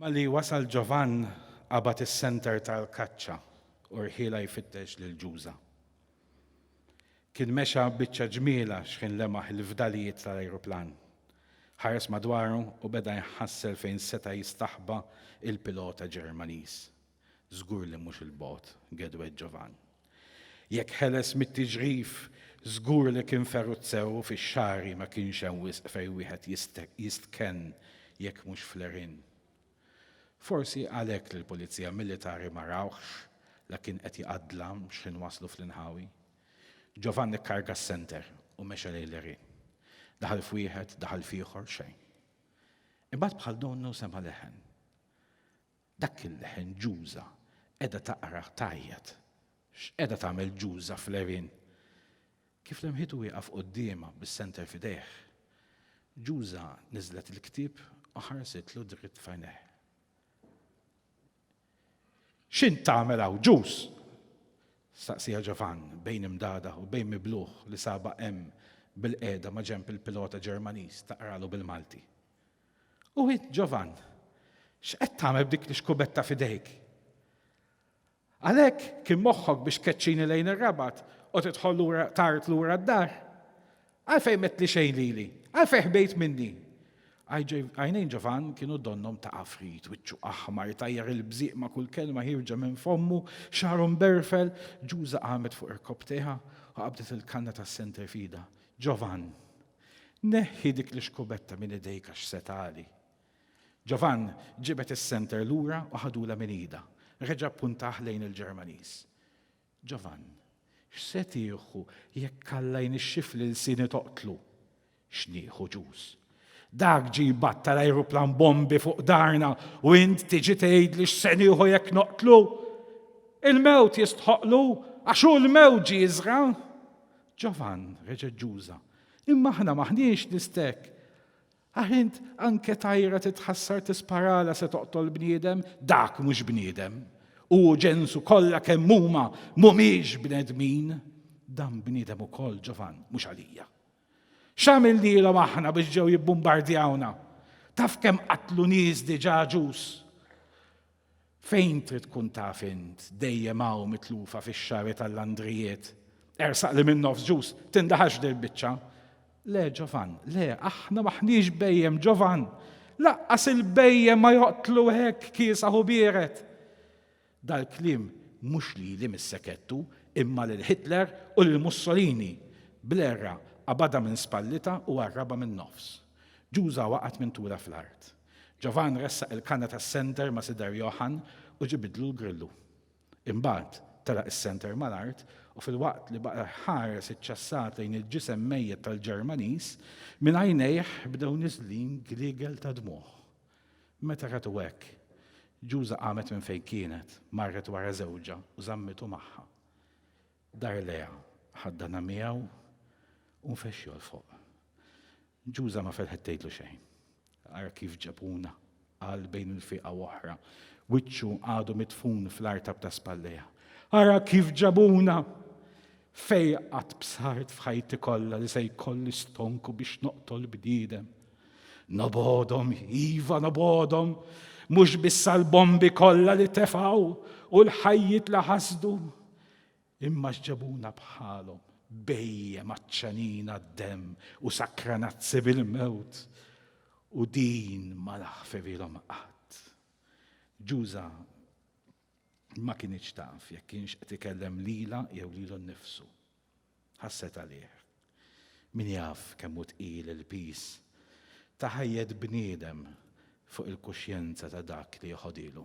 Malli wasal Ġovann qabad is-senter tal-kaċċa u rħielha jfittex lil Ġuża. Kien mexa biċċa ġmielha xħin lemaħ il-fdalijiet tal-ajruplan. Ħares madwaru u beda jħassel fejn seta' jistaħba il-pilota Ġermaniż. Żgur li mhux 'il bogħod Gedwed Ġovan. Jekk ħeles mit-tiġrif, żgur li kien feruzzew u fix-xagħri ma kienx hemm wisq fejn wieħed jistkenn jekk mhux fl-għerien. Forsi għalhekk li l-Pulizija Militari ma rawhx la kien qed jqaddlam x'ħin waslu fl-inħawi. Ġovan ikkarga s-senter u mexa lejn l-għerien. Daħal f'wieħed, daħal f'ieħor, xejn. Imbagħad bħal donnu sema' leħen. Dak il-leħen Ġuża qiegħda taqrah tgħajjat. X'qiegħda tagħmel Ġuża fl-għerien? Kif lemħitu wieqaf quddiemha bis-senter f'idejh, Ġuża niżlet il-ktieb u ħarsitlu dritt f'għajnejh. X'int tagħmel hawn, Ġuż? staqsieha Ġovann bejn imdagħdagħ u bejn miblugħ li sabha hemm bilqiegħda maġenb il-pilota Ġermaniż taqralu bil-Malti. U int, Ġovann, x'qed tagħmel b'dik l-ixkubetta f'idejk? Għalhekk kien moħħok biex keċċini lejn ir-rabat u tidħol lura tard lura d-dar? Għalfejn met li xejn lili? Għalfejn ħbejt minni? Għajnejn Ġovann kienu donnom ta' afrit, wiċċu aħmar, tajjar il-bżiq ma' kull kelma ħirġa minn fommu, xaru mberfel, ġuża qamet fuq irkob teħa u qabdet il-kanna tas-senterfida. Ġovann! Neħħi dik l-ixkubetta minn idejk għax se tagħli. Giovann ġibed is-senter lura u ħadulha minn idha. Reġa' ppuntah lejn il-Ġermaniż. Giovann, x'se tieħu jekk Alla jnixxif li lsieni toqtlu? X'nieħu, Ġus? Dak ġie jbattal ajruplan bombi fuq darna u int tiġi tgħidli x'se nieħu jekk noqtlu? Il-mewt jistħoqqlu għax hu l-mewt ġie jiżra'. Ġovann, reġgħet Ġuża, imma aħna m'aħniex l-istek. Aħ int anke tajra titħassar tisparala se toqtol bniedem, dak mhux bniedem. U ġensu kollha kemm huma mhumiex bnedmin. Dan bniedem ukoll Ġovann, mhux għalija. X'għamil lilhom aħna biex ġew jibbumbardjawna? Taf kemm qatlu nies diġà ġus? Fejn trid tkun taf int, dejjem hawn mitlufa fix-xagħri tal-landrijiet. Ersaq li minn nofs ġus tindaħalx dil-biċċa. Le, Ġovan, le, aħna m'aħniex bhejjem, Ġovan! Laqqas il-bhejjem ma joqtlu hekk kiesaħ u biered! Dal-kliem mhux lili missek għedtu, imma lil Hitler u lil Mussolini! Bl-għerra qabadha minn spallitha u qarrabha min-nofs. Ġuża waqgħet minn tulha fl-art. Ġovann ressaq il-kanna tas-senter ma' Sider Johann u ġibidlu l-grillu. Imbagħad, telaq is-senter mal-art u filwaqt li baqa' jħares iċ-ċassat lejn il-ġisem mejjet tal-Ġermaniż, minn għajnejh bdew niżlin gliegel ta' dmugħ. Meta ratu hekk, Ġuża qamet minn fejn kienet, marret wara żewġha u żammitu magħha. Dar lejha, ħaddanha miegħu u nfexxu 'l fuq. Ġuża ma ferħet tgħidlu xejn. Ara kif ġebuna, qal bejn il-fieqa u oħra, wiċċu għadu midfun fl-artab ta' spallejha. Ara kif ġabuna! Fejn qatt bsart f'ħajti kollha li se jkolli stonku biex noqtol bniedem. Nobodhom, iva nobodhom, mhux biss għall-bombi kollha li tefgħu u l-ħajjiet li ħasdu, Imma x'ġabuna bħalhom, bhejjem għatxanin għad-demm u sakranazzi bil-mewt, u din ma laħfevilhom qatt. Ġuża ma kinitx taf jekk kienx qed ikellem lilha jew lilu nnifsu. Ħasset għalih. Min jaf kemm hu tqil il-piż ta' ħajjet bniedem fuq il-kuxjenza ta' dak li jħodilu.